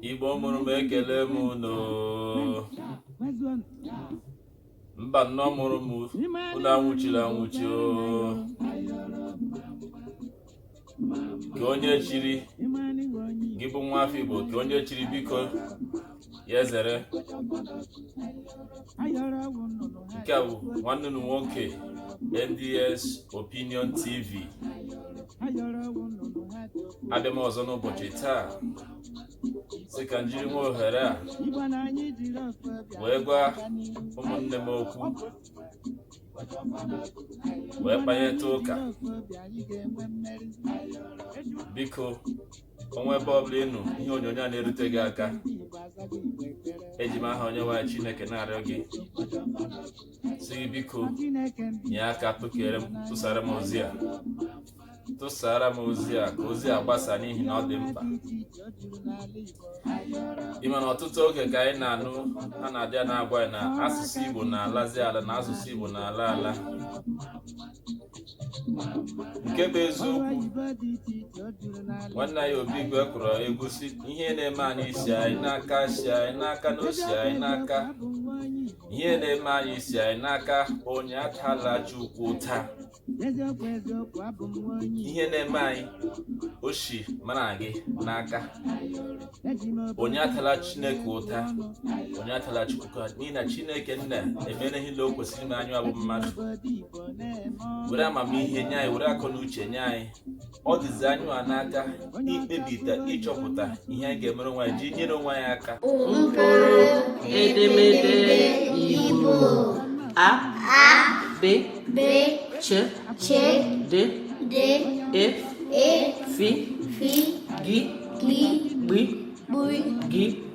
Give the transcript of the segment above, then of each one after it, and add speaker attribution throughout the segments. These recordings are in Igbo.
Speaker 1: Igbo mụrụ m ekele m unu Mbanọ mụrụ m unu anwụchiri anwụchi o ka onye chiri gị bụ nwa afọ Igbo ka onye chiri biko ya zere nke a bụ nwanne unu nwoke nds opinion tv abịa m ọzọ n'ụbọchị taa sị ka m jiri nwa ohere a wee gwa ụmụnne m okwu wee kpanyeta ụka biko o nwee ebe ọbụla ị nọ ihe onyonyo a na-erute gị aka eji m aha onyenwe anyị chineke na-arịọ gị sị gị biko nye aka tụkere m tụsara m ozi a tụsara m ozi a ka ozi a gbasa n'ihi na ọ dị mkpa ị ma na ọtụtụ oge ka anyị na-anụ ha na-abịa na-agwa anyị na asụsụ Igbo na-alazi ala na asụsụ Igbo na-ala ala nke bụ eziokwu nwanne anyị obi igwe kụrụ egwu sị ihe na-eme anyị si anyị n'aka si anyị n'aka na o si anyị n'aka ihe na-eme anyị si anyị n'aka onye atala chukwu ụta ihe na-eme anyị o si mụ na gị n'aka onye atala chineke ụta onye atala chukwu ụta n'ihi na chineke nna emere ihe ile o kwesịrị ime anyị a bụ mmadụ were amamihe nye anyị were akọ na uche nye anyị ọ dịzi anyị a n'aka ikpebita ịchọpụta ihe anyị ga-emere onwe anyị ji nyere onwe anyị aka mkpụrụ
Speaker 2: edemede Igbo a b b ch ch d d e e fi fi gi gi gbi gbi gi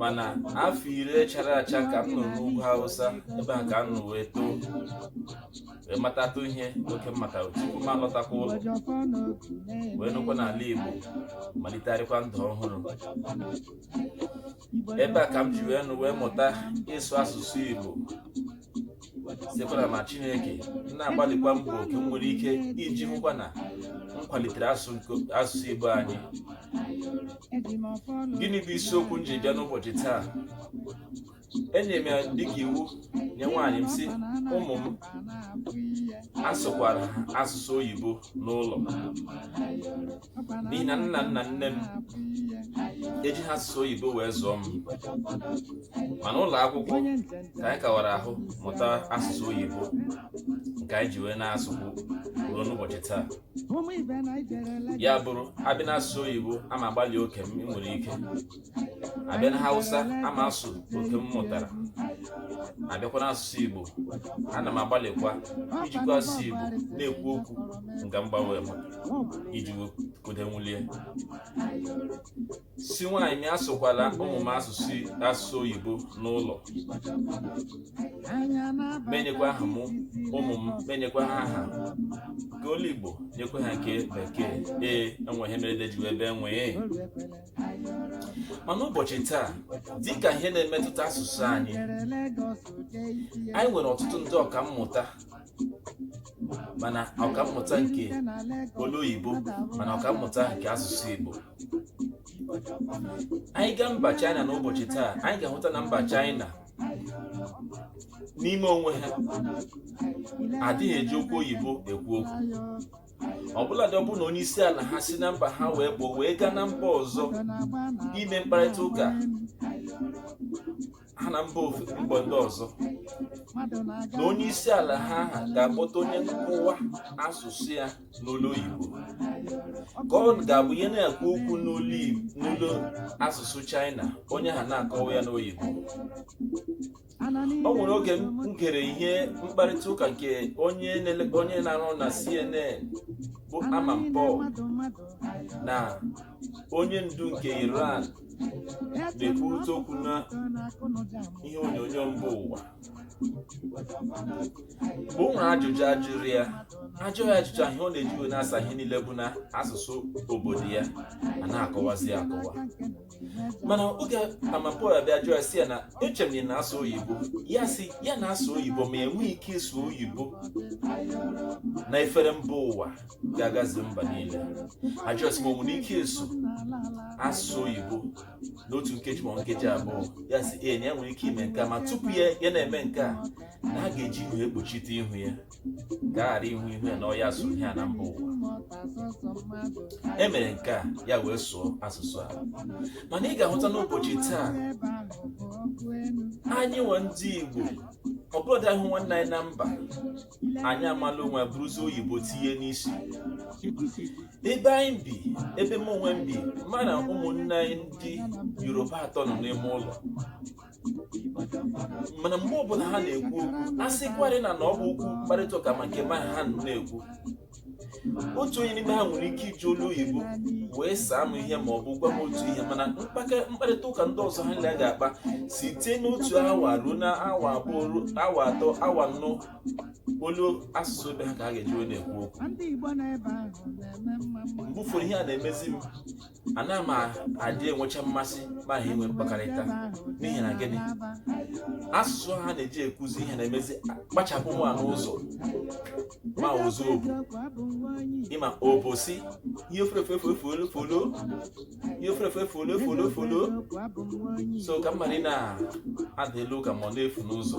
Speaker 1: mana afọ iri chara acha ka m nọ n'ugwu hausa ebe a ka m nọ wee too wee matatụ ihe oke m mata tupu m alọtakwa ụlọ wee nọkwa n'ala igbo malitegharịkwa ndụ ọhụrụ ebe a ka m ji wee nọ wee mụta ịsụ asụsụ igbo sikwa n'amara chineke na-agbalịkwa mbọ oke m nwere ike iji hụkwa na m kwalitere asụsụ nke- asụsụ igbo anyị gịnị bụ isiokwu m ji bịa n'ụbọchị taa enyere m ya dịka iwu nye nwaanyị m sị ụmụ m asụkwara ha asụsụ oyibo n'ụlọ n'ihi na nna m na nne m ejiha asụsụ oyibo wee zụọ m mana ụlọ akwụkwọ ka anyị kawara ahụ mụta asụsụ oyibo nke anyị ji wee na-asụkwu ruo n'ụbọchị taa ya bụrụ a bịa n'asụsụ oyibo a ma agbalị oke m nwere ike a bịa na hausa ama asụ oke m mụtara a bịakwa na asụsụ igbo ana m agbalịkwa ijikwa asụsụ igbo na-ekwu okwu nga mgbanwe m iji kode nwulie sị nwaanyị m asụkwala ụmụ m asụsụ asụsụ oyibo n'ụlọ m enyekwa aha m ụmụ m m enyekwa ha aha nke olu igbo nyekwa ha nke bekee ee enwe ihe mere dejiwe ebe enwee ma n'ụbọchị taa dịka ihe na-emetụta asụsụ anyị anyị nwere ọtụtụ ndị ọka mmụta ma na ọka mmụta nke olu oyibo ma na ọka mmụta nke asụsụ igbo anyị gaa mba china n'ụbọchị taa anyị ga-ahụta na mba china n'ime onwe ha adịghị eji okwu oyibo ekwu okwu ọbụladị ọ bụrụ na onye isi ala ha si na mba ha wee pụọ wee gaa na mba ọzọ ime mkparịta ụka ha na mba mba ndị ọzọ na onye isi ala ha ha ga-akpọta onye nkọwa asụsụ ya n'olu oyibo ka ọ ga-abụ ya na-ekwu okwu n'olu asụsụ China onye ahụ na-akọwa ya n'oyibo o nwere oge m gere ihe mkparịta ụka nke onye na-arụ na CNN bụ Amanpour na onye ndu nke Iran na-ekwurịta okwu na ihe onyonyo mba ụwa mgbe o nwere ajụjụ a jụrụ ya a jụọ ya ajụjụ ihe ọ na-eji wee na-asa ihe niile bụ na asụsụ obodo ya a na-akọwazi akọwa mana oge Amanpour abịa jụọ ya sị ya na eche m na ị na-asụ oyibo ya sị ya na-asụ oyibo ma enwe ike ịsụ oyibo na efere mba ụwa ga-agazu mba niile a jụọ sị ma o nwere ike ịsụ asụ oyibo n'otu nkeji ma nkeji abụọ ya sị ee na ya nwere ike ime nke a ma tupu ya ya na-eme nke a na a ga-eji ihe ekpuchite ihu ya ka a ghara ịhụ ihu ya na ọ ya sụrụ ihe a na mba ụwa e mere nke a ya wee sụọ asụsụ a mana ị ga-ahụta n'ụbọchị taa anyịnwa ndị Igbo ọbụladị a hụ nwanne anyị na mba anyị amala onwe ya buruzi oyibo tinye n'isi ebe anyị bi ebe m onwe m bi mụ na ụmụnne anyị ndị yoruba atọ nọ n'ime ụlọ mana mgbe ọbụla ha na-ekwu okwu a sịkwarị na na ọ bụ okwu mkparịta ụka ma nke mụ na ha na-ekwu otu onye n'ime ha nwere ike iji olu oyibo wee saa m ihe ma ọ bụ gwa m otu ihe mana mkpake- mkparịta ụka ndị ọzọ ha niile ga-akpa site n'otu awa ruo na awa abụọ ruo awa atọ awa anọ olu asụsụ ebe ha ka ha ga-eji wee na-ekwu okwu mgbe ụfọdụ ihe a na-emezi m ana m adị enwecha mmasị mụ na ha enwe mkpakọrịta n'ihi na gịnị asụsụ ha na-eji ekwuzi ihe na-emezi kpachapụ mụwa n'ụzọ ma ụzọ ọ bụ ịma ọ bụzi ihe ofurefefefolo ihe ofurefefolo folo folo so ka mmadụ na-ada elu ka ma ọ na-efu n'ụzọ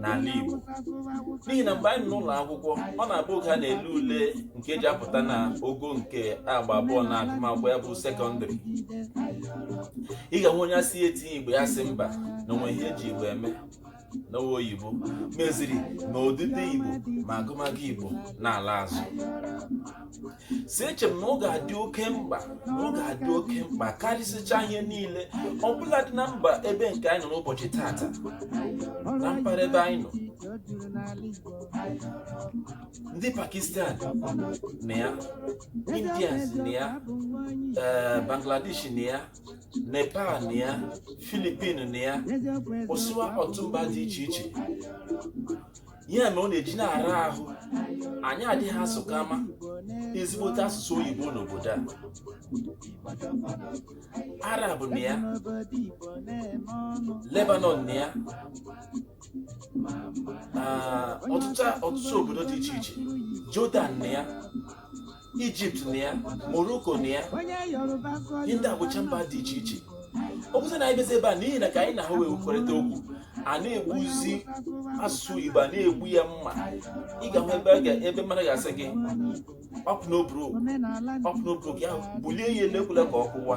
Speaker 1: n'ala Igbo n'ihi na mgbe anyị nọ n'ụlọ akwụkwọ ọ na-abụ oge a na-ele ule nke eji apụta na ogo nke agba abụọ na agụmakwụkwọ ya bụ sekọndịrị ị ga-enwe onye a sị ya tinye igbo ya sị mba na o nweghị ihe eji igbo eme na ọ bụ oyibo meziri na odide igbo ma agụmagụ igbo na-ala azụ si eche m na ọ ga-adị oke mkpa na ọ ga-adị oke mkpa karịsịcha ihe niile ọbụladị na mba ebe nke anyị nọ n'ụbọchị tata na mpaghara ebe anyị nọ ndị pakistan nọ ya indians nọ ya eh, bangladesh nọ ya nepal nọ ya philippines nọ ya gụsịwa ọtụtụ mba dị iche iche ya mere ọ na-eji na-ara ahụ anyị adịghị asụ kama ezigbote asụsụ oyibo n'obodo a arab nọ ya lebanon nọ ya ah, ọtụtụ ọtụtụ obodo dị iche iche jordan nọ ya egypt nọ ya morocco nọ ya ihe ndị a bụcha mba dị iche iche ọ bụzi na anyị bizi ebe a n'ihi na ka anyị na ha wee kwukọrịta okwu a na-egbuzi asụsụ igbo a na-egbu ya mma ị ga-ahụ ebe a ga- ebe mmadụ ga-asị gị ọpụ n'oburu ọpụ n'oburu gị ahụ bulie ya elu ekwela ka ọ kụwa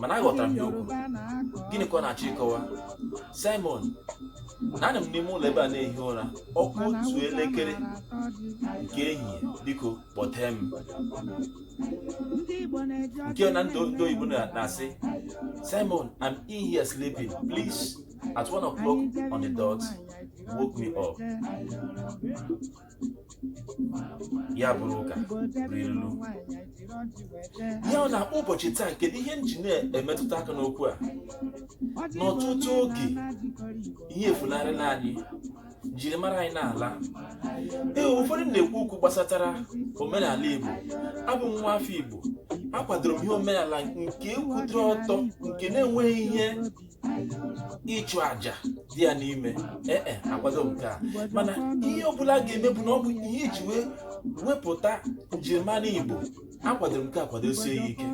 Speaker 1: mana aghọtara m ihe o kwuru gịnị ka ọ na-achọ ịkọwa simon na anọ m n'ime ụlọ ebe a na-ehi ụra ọ kụọ otu elekere nke ehihie biko kpọtee m nke na ndị ndị oyibo na- na-asị simon i'm in here sleeping please at one o'clock on the dot woke me up ya bụrụ ụka bụrụ ilu ya bụ n'ụbọchị taa kedu ihe m ji na-emetụta aka n'okwu a n'ọtụtụ oge ihe efunarịla anyị njirimara anyị na-ala ee ụfọdụ na-ekwu okwu gbasatara omenala igbo abụ m nwa afọ igbo akwadoro m ihe omenala nke kwụdịrị ọtọ nke na-enweghị ihe ịchụ aja dị ya n'ime ee e akwadoro m nke a mana ihe ọbụla a ga-eme bụ na ọ bụ ihe iji wee wepụta njirimara igbo akwadoro m nke a kwadosie ya ike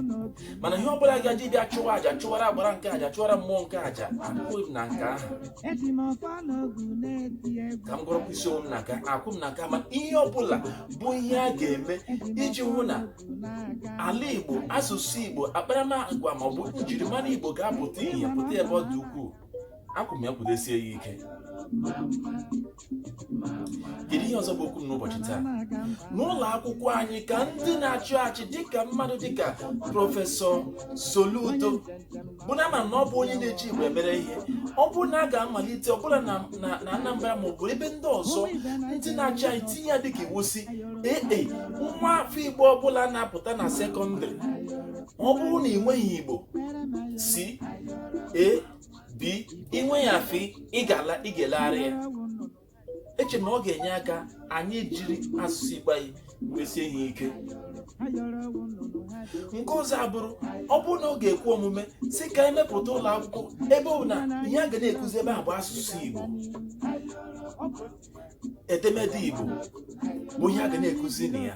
Speaker 1: mana ihe ọbụla a ga-eji bịa chụwa aja chụwara agbara nke aja chụwara mmụọ nke aja akwụghị m na nke ahụ ka m gọrọkwa isi onwe m na nke akwụghị m na nke ahụ mana ihe ọbụla bụ ihe a ga-eme iji hụ na ala igbo asụsụ igbo akparamagwa ma ọ bụ njirimara igbo ga-apụta ihe pụta ebe ọ dị ukwuu akwụ m ya kwụdesie ya ike kedu ihe ọzọ bụ okwu m n'ụbọchị taa n'ụlọ akwụkwọ anyị ka ndị na-achị achị dịka mmadụ dịka prọfesọ soludo bụ na a ma na ọ bụ onye na-eji igbo emere ihe ọ bụrụ na a ga-amalite ọbụla na Anambra ma ọ bụ ebe ndị ọzọ ndị na-achị anyị tinye ya dịka iwu sị ee e, nwa afọ igbo ọbụla na-apụta na sekọndịrị ọ bụrụ na i nweghị igbo C A B i nwee ya F ị ga-elegharị ya eche m na ọ ga-enye aka anyị jiri asụsụ igbo anyị mesie ihe ike nke ọzọ abụrụ ọ bụrụ na ọ ga-ekwe omume sị ka e mepụta ụlọ akwụkwọ ebe ọ bụ na ihe a ga na-ekuzi ebe ahụ bụ asụsụ igbo edemede igbo bụ ihe a ga na-ekuzi na ya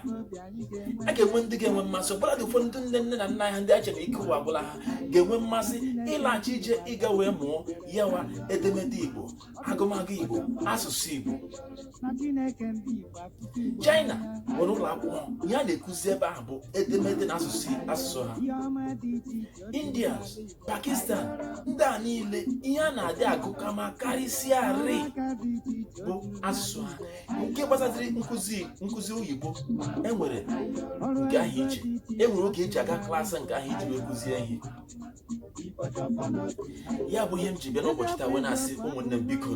Speaker 1: a ga-enwe ndị ga-enwe mmasị ọbụladị ụfọdụ ndị nne nne na nna ha ndị a chere ike ụwa agwụla ha ga-enwe mmasị ịlaghachi ije ịga wee mụọ yawa edemede igbo agụmagụ igbo asụsụ igbo china nwere ụlọ akwụkwọ ihe a na-ekuzi ebe ahụ bụ edemede na asụsụ asụsụ ha india pakistan ndị a niile ihe a na-adị agụ kama karịsịarị bụ asụsụ ha nke gbasatịrị nkụzi oyibo e nwere nke ahụ iche e nwere oge e ji aga klaasị nke ahụ iji wee kụzie ihe ya bụ ihe m ji bịa n'ụbọchị taa wee na-asị ụmụnne m biko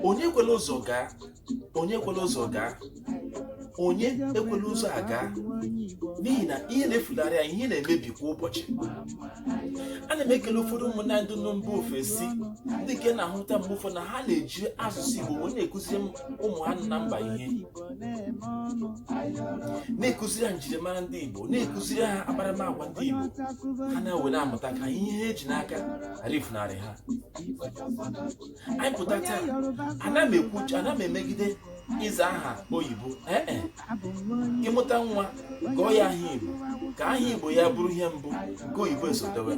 Speaker 1: onye ekwela ụzọ gaa onye ekwela ụzọ gaa onye ekwela ụzọ aga n'ihi na ihe na-efularị anyị ihe na-emebi kwa ụbọchị ana m ekele ụfọdụ ụmụnna ndị nọ mba ofesi ndị nke na-ahụta mgbe ụfọdụ na ha na-eji asụsụ Igbo wee na-ekuziri ụmụ ha na mba ihe na-ekụziri ha njirimara ndị Igbo na-ekụziri ha akparamagwa ndị Igbo ha na-ewe na-amụta ka ihe ha eji n'aka ghara ifunarị ha anyị pụta taa ana m ekwu ana m emegide ịza aha oyibo ee e. ị mụta nwa gụọ ya aha Igbo ka aha Igbo ya bụrụ ihe mbụ nke oyibo esotewe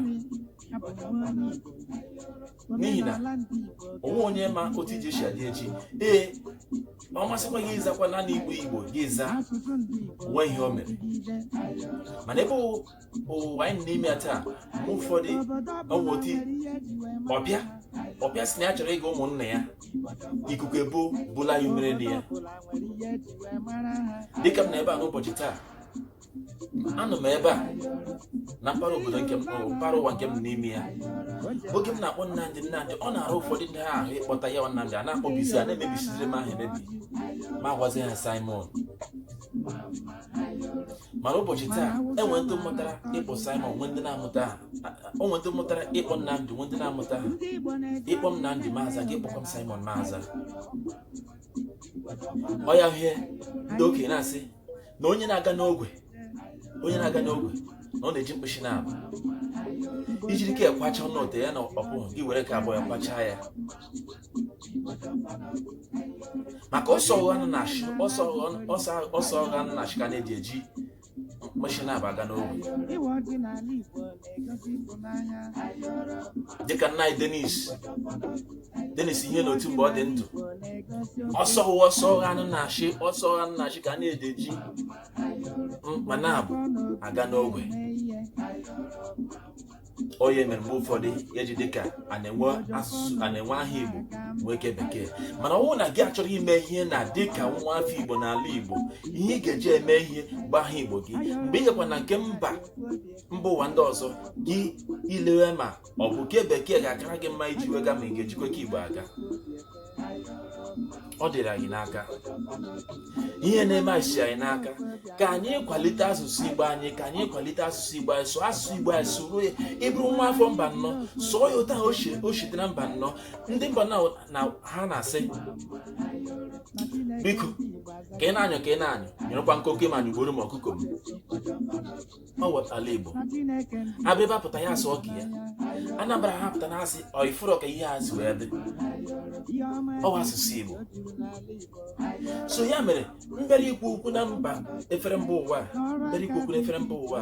Speaker 1: n'ihi na omenala ndị Igbo onwe onye ma otu ije si adị echi ee ọ masịkwa gị ịzakwa naanị igbo igbo gị za asụsụ ndị Igbo onwe ihe o mere dịgide mana ebe ụ- ụwa anyị nọ n'ime ya taa mgbe ụfọdụ obodo ọ bụ ọbụla otu nwere ihe ji wee mara ọbịa ọbịa si na ya chọrọ ịga ụmụnna ya ikuku ebo bụla ya umere na ya ọbụla nwere ihe ji wee mara ha dịka m na ebe a n'ụbọchị taa anọ m ebe a na mpaghara obodo nke mpaghara ụwa nke m nọ n'ime ya oge m na-akpọ Nnamdị Nnamdị ọ na-ara ụfọdụ ndị a ahụ ịkpọta ya Nnamdị a na-akpọbisi a na-emebisiziri m aha emebi m agwazi ha Simon mana ụbọchị taa e nwe ndị mụtara ịkpọ Simon nwe ndị na-amụtaha o nwe ndị mụtara ịkpọ Nnamdị nwe ndị na-amụtaha ị kpọ m Nnamdị m aza gị kpọkwa m Simon m aza ọ ya hie ndị okenye na-asị na onye na-aga n'ogwe onye na-aga n'ogwe na ọ na-eji mkpịsị naabọ i jiri ke a kwacha ọnụ ote ya na ọkpụ gị were ke abụọ ya kwachaa ya maka ọsọ ọgha nọ na nshị ọsọ ọgha ọsọ- ọsọ ọgha nọ na nshị ka a na-eji eji mkpịsị naabọ aga n'ogwe dịka nna anyị Dennis Dennis Ihenetu mgbe ọ dị ndụ ọsọ ọsọ ọgha nọ na nshị ọsọ ọgha nọ na nshị ka a na-eji eji mkpịsị naabọ aga n'ogwe ọ ya mere mgbe ụfọdụ e ji dịka a na-enwe asụsụ a na-enwe aha Igbo nwee ke bekee mana ọ bụrụ na gị achọrọ ime ihe na dịka nwa afọ Igbo n'ala Igbo ihe ị ga-eji eme ihe bụ aha Igbo gị mgbe ị gakwa na nke mba mba ụwa ndị ọzọ gị elewe ma ọ bụ ke bekee ga-akara gị mma iji wee gaa ma ị ga-ejikwa ke igbo aga ọ dịrị anyị n'aka ihe na-eme anyị si anyị n'aka ka anyị kwalite asụsụ igbo anyị ka anyị kwalite asụsụ igbo anyị sụọ asụsụ igbo anyị sụrụ ya ị bụrụ nwa afọ Mbanọ sụọ ya otu o shite na Mbanọ ndị Mbanọ ha na-asị biko ka ị na-anyụ ka ị na-anyụ nyụrụkwa nkoke ma nyụgbuoro m ọkụkọ m ọ ghọtala igbo Abịrịba apụta ya asụọ ke ya anambra ha pụta na-asị ọ i furu ka ihe a si wee dị ọwa asụsụ igbo so ya mere m bịara ikwu okwu na mba efere mba ụwa m bịara ikwu okwu na efere mba ụwa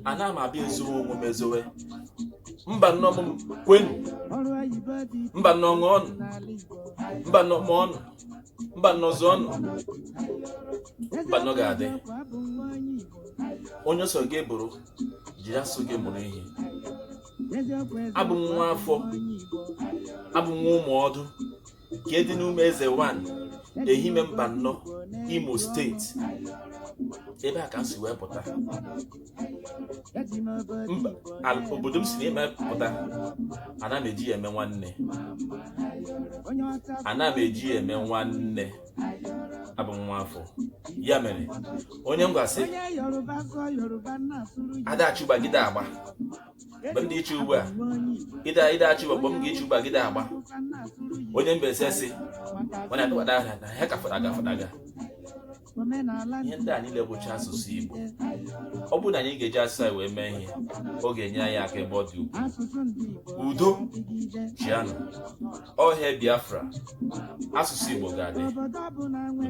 Speaker 1: ana m abịa ezowe onwe m ezowe Mbanọ m kwenu Mbanọ ṅụọnụ Mbanọ mụọnụ Mbanọ zuo ọnụ Mbanọ ga-adị onye so gị bụrụ jiri asụ gị mụrụ ihe abụ m nwa afọ abụ m nwa Ụmụọdụ nke dị n'Ụmụeze wan Ehime Mbanọ Imo steeti ebe a ka m si wee pụta mba al- obodo m si n'ime pụta ana m eji ya eme nwanne ana m eji ya eme nwanne abụ m nwa afọ ya mere onye Ngwa sị adachụba gide agba mgbe m dị iche ugbu a ịda ịda achụba mgbe m ga-eche ugbu a gide agba onye Mbaise sị mana akpụkpata ahịa na ha ka fọdaga fọdaga ihe ndị a niile bụcha asụsụ Igbo ọ bụrụ na anyị ga-eji asụsụ anyị wee mee ihe ọ ga-enye anyị aka ebe ọ dị ukwuu udo chịanụ ọha Biafra asụsụ Igbo ga-adị